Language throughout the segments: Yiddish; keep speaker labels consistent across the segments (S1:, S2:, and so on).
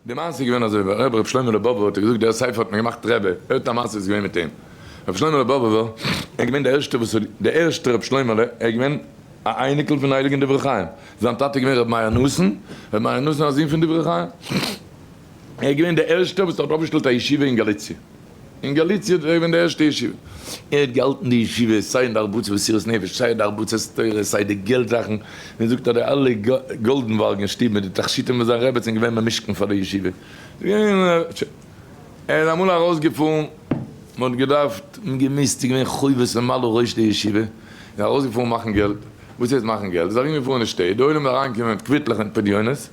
S1: די מעשה איז געווען אזוי, ווייל ר' ר' שלמה לבובער האט ער געזאגט דער ספר האט מען געמאכט רבי, ער האט א מעשה וואס איז געווען מיט אים, ר' שלמה לבובער ער איז געווען דער ערשטער וואס האט, דער ערשטער ר' שלמה'לע, ער איז געווען א אייניקל פון הייליגען דברי חיים, זיין טאטע איז געווען ר' מאיר נאסן, ר' מאיר נאסן א זון פון דברי חיים, ער איז געווען דער ערשטער וואס האט אויפגעשטעלט א ישיבה אין גאליציע. אין גאליציע איז געווען די ערשטע ישיבה, ער האט געהאלטן די ישיבה סיי אין די הרבצת מסירות נפש סיי אין די הרבצת תורה סיי די געלט זאכן, מען זאגט אז די אלע גאלדענבארגען שטוב מיט די תכשיטים פון זיין רעבעצין איז געווען במשכן פאר די ישיבה, ער איז אמאל ארויסגעפארן מען האט געדארפט און געמוזט איז געווען חובות ממלא ראש די ישיבה, איז ארויסגעפארן מאכן געלט, וואס הייסט מאכן געלט, איז ארום געפארן אין שטעט, די עולם איז אריינגעקומען מיט קוויטלעך און פדיונות.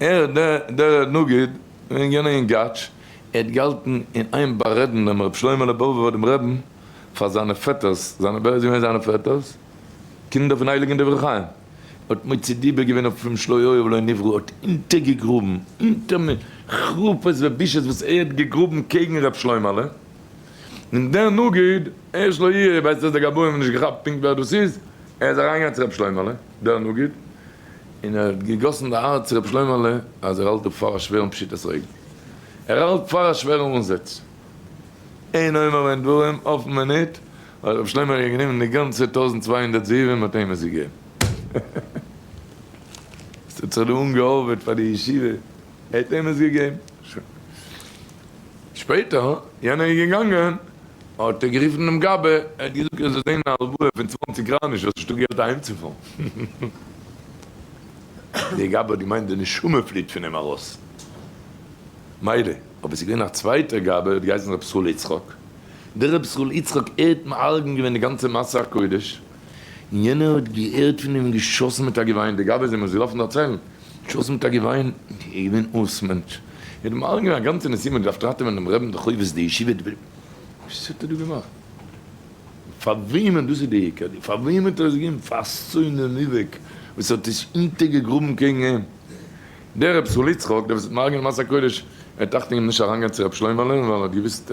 S1: ער, דער נגיד, איז געווען אַ יונגאַטש, ער האָט געהאַלטן אין איין באַרעדן דעם רב שלמהלע באָבעווער דעם רבין פֿאַר זײַנע פֿעטערס, זײַנע, ווער איז געווען זײַנע פֿעטערס? קינדער פֿון הייליגן דברי חיים. ער האָט מוציא דיבה געווען אויף אים שלא היה ולא נברא, האָט אונטערגעגראָבן, אונטער מ חרפּות ובושות וואָס ער האָט געגראָבן קעגן רב שלמהלע. און דער נגיד, ער שלא יהיה, ווייסט אַז די גבאים האָבן נישט געכאַפּט פּונקט ווער דאָס איז, ער איז אַרײַנגעגאַנגען צו רב שלמהלע, דער נגיד, און ער האט געגאסן די הארץ רב שלמה'לע אז ער האלט אפ פאר א שווערן פשיטת רגל, ער האלט פאר א שווערע אנזעץ, אין אומר ואין דברים, אויפן מינוט האט רב שלמה אריבער גענומען די גאנצע טויזנט צוויי הונדערט זהובים און האט אים עס געגעבן. עס האט זיך דא אנגעהאווערט פאר די ישיבה. ער האט אים עס געגעבן. שוין. שפעטער ווען יענער איז געגאנגען, האט ער גערופן דעם גבאי, ער האט געזאגט ער זאל דען א הלוואה פון צוואנציג קרייניש, האסט נישטא געלט אהיימצופארן. דער גבאי האט געמיינט די נשמה פליט פון אים ארויס. מילא. אבער ס'איז געווען א צווייטער גבאי, האט געהייסן ר' ישראל יצחק. דער ר' ישראל יצחק ער'ט מארגן געווען די גאנצע מסע הקודש, און יענער האט געהערט פון אים געשאסן מיט א געוויין, די גבאי זענען אונז געלאפן דערציילן, געשאסן מיט א געוויין, ער איז געווען אויס מענטש, ער האט מעורר געווען א גאנצע נסיעה, מען האט געדארפט ראטעווען דעם רעבען, די חובות, די ישיבה, די בריוו, וואס האט ער דא געמאכט? פאר וועמען, דאס איז די עיקר, פאר וועמען האט ער עס געגעבן? פאר סוינעם איבעק וואס האט עס אונטערגעגראבן קעגן אים, דער רב זצל יצחק, דער וואס האט מעורר געווען די מסע קודש, ער האט טראכט אינגאנצן נישט אריינגיין צו ר' שלמה'לע, ווייל ער האט געוואוסט,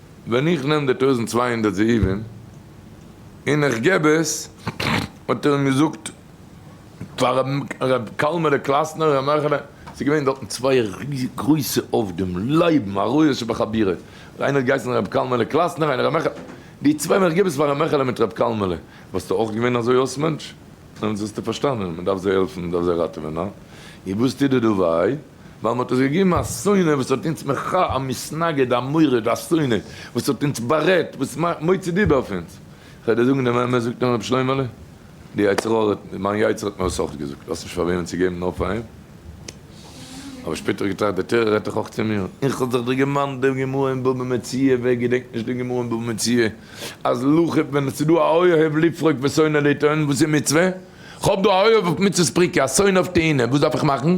S1: ווען איך נעם די טויזנט צוויי הונדערט זהובים און איך געב עס, האט ער אים געזאגט פאר ר' קאלמערע קלאסנער, ר' מעכעלע, ס'איז געווען דארטן צוויי גרויסע עובדים, לייבן א רועה שבחבירו, איינער האט געהייסן ר' קאלמעלע קלאסנער, איינער ר' מעכעלע, די צוויי ווען איך געב עס פאר ר' מעכעלע מיט ר' קאלמעלע, וואלסטו אויך געווען אזוי אויס מענטש? דעמאלטס וואלסטו פארשטאנען, מען דארף זיי העלפן, מען דארף זיי ראטעווען, הא? איר וואס טוט די דא וויי? ווייל מ'האט אונז געגעבן א שונא וואס האט אונז מח, א מתנגד, א מורד, א שונא וואס האט אונז בארעדט, וואס מאכט מוצא דיבה אויף אונז. כ'וועל דיר זאגן דעם אמת, זאגט אים רבי שלוימעלע, די יצר הרע האט, מיין יצר האט מיר עס אויך געזאגט, האסט נישט פאר וועמען צו געבן נאר פאר אים. אבער שפעטער געטראכט, די תורה רעדט דאך אויך צו מיר, איך האב זיך דיר געמאנט די גמרא אין בבא מציעא, ווער געדענקט נישט די גמרא אין בבא מציעא, אז לכה פ ווען עס איז דא א אוהב לפרוק ושונא לטעון, וואס איז מצוה? כ'האב דא א אוהב אויף מצות פריקה, א שונא אויף טעינה, וואס דארף איך מאכן?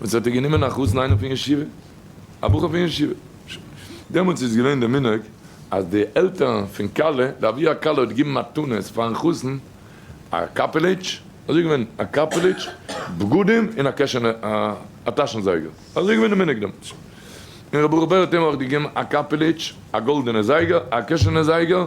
S1: און ס'האט איר גענומען א חתן איינעם פון ישיבה, א בחור פון ישיבה. דעמאלטס איז געווען די מנהג אז די עלטערן פון כלה, די אבי הכלה האט געגעבן מתנות פארן חתן, א קאפעליטש, אזוי געווען, א קאפעליטש, בגדים, און א קעשענע, א טאשן זייגער. אזוי געווען די מנהג דעמאלטס. און ר' ברוך בער האט אים אויך געגעבן א קאפעליטש, א גאלדענע זייגער, א קעשענע זייגער,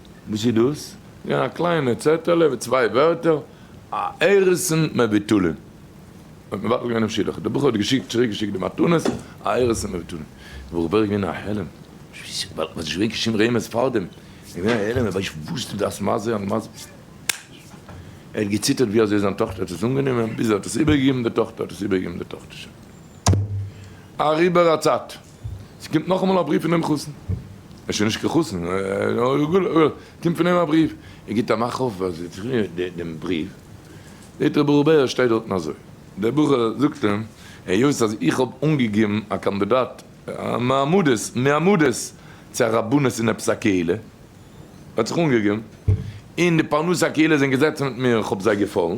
S1: וואס איז דאס? געווען א קליינע צעטעלע מיט צוויי ווערטער, הערריסאן מבטולין. האט מבטל געווען דעם שידוך. דער בחור האט געשיקט, צוריק געשיקט די מתנות, הערריסאן מבטולין. דער בחור בערך געווען א העלם. ווייל מ'האט נישט געברענגט קיין שום רמז פארדעם. ער איז געווען א העלם, ער ווייסט נישט וואס דו דארפסט, מה זה ומה זה. ער האט געציטערט ווי אזוי זיין טאכטער האט עס אנגענומען, ביז ער האט עס איבערגעגעבן די טאכטער האט עס איבערגעגעבן די טאכטער. שוין אריבער א צייט. ס'קומט נאכאמאל א בריוו פון דעם חתן, ער איז שוין נישט קיין חתן, קומט פון אים א בריוו, ער גיבט א מאך אויף אז ער האט זיך גענומען דעם בריוו, זעט רבי רובי' עס שטייט דארטן אזוי, דער בחור זאגט אים, היות אז איך האב אנגעגעבן א קאנדידאט מעמדות מעמדות צו א רבנות אין עפעס א קהילה, ער האט זיך אנגעגעבן, און די פרנסי הקהילה זענען געזעצן מיט מיר, איך האב זיי געפאלן.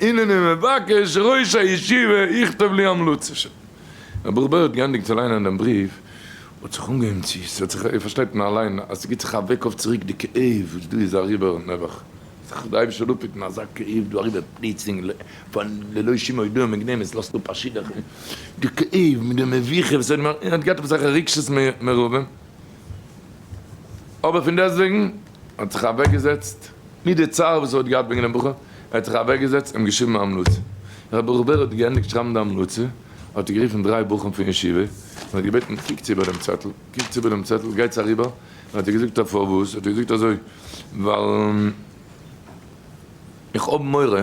S1: הנני מבקש ראש הישיבה יכתוב לי המלצה ש. ר' בערל האט געענדיגט צו ליינען דעם בריוו, האט זיך אנגעהויבן צו, ס'האט זיך, איר פארשטייט פון אליין אז ס'גיבט זיך א וועק אויף צוריק די כאב וואס דא איז אריבער, נעבעך זיך די אייבישטער דא פיטן אזא כאב דא אריבער פלוצלינג פון ללא שום הודעה מוקדמת, עס לאזט אפ א שידוך, די כאב מיט די מביכה וואס ער האט געהאט אויף זיך רגשות מרובים. אבער פון דעסטוועגן האט זיך אוועק געזעצט מיט די צער וואס ער האט געהאט וועגן דעם בחור, ער האט זיך אוועק געזעצט און געשריבן א המלצה, ווען ר' ברוך בער האט געענדיגט שרייבן די המלצה, האט ער גערופן דריי בחורים פון ישיבה און האט געבעטן קוקטס איבער דעם צעטל, קוקטס איבער דעם צעטל, גייטס אריבער, און האט ער געזאגט א פארוואס, האט ער געזאגט אזוי, ווייל איך האב מורא.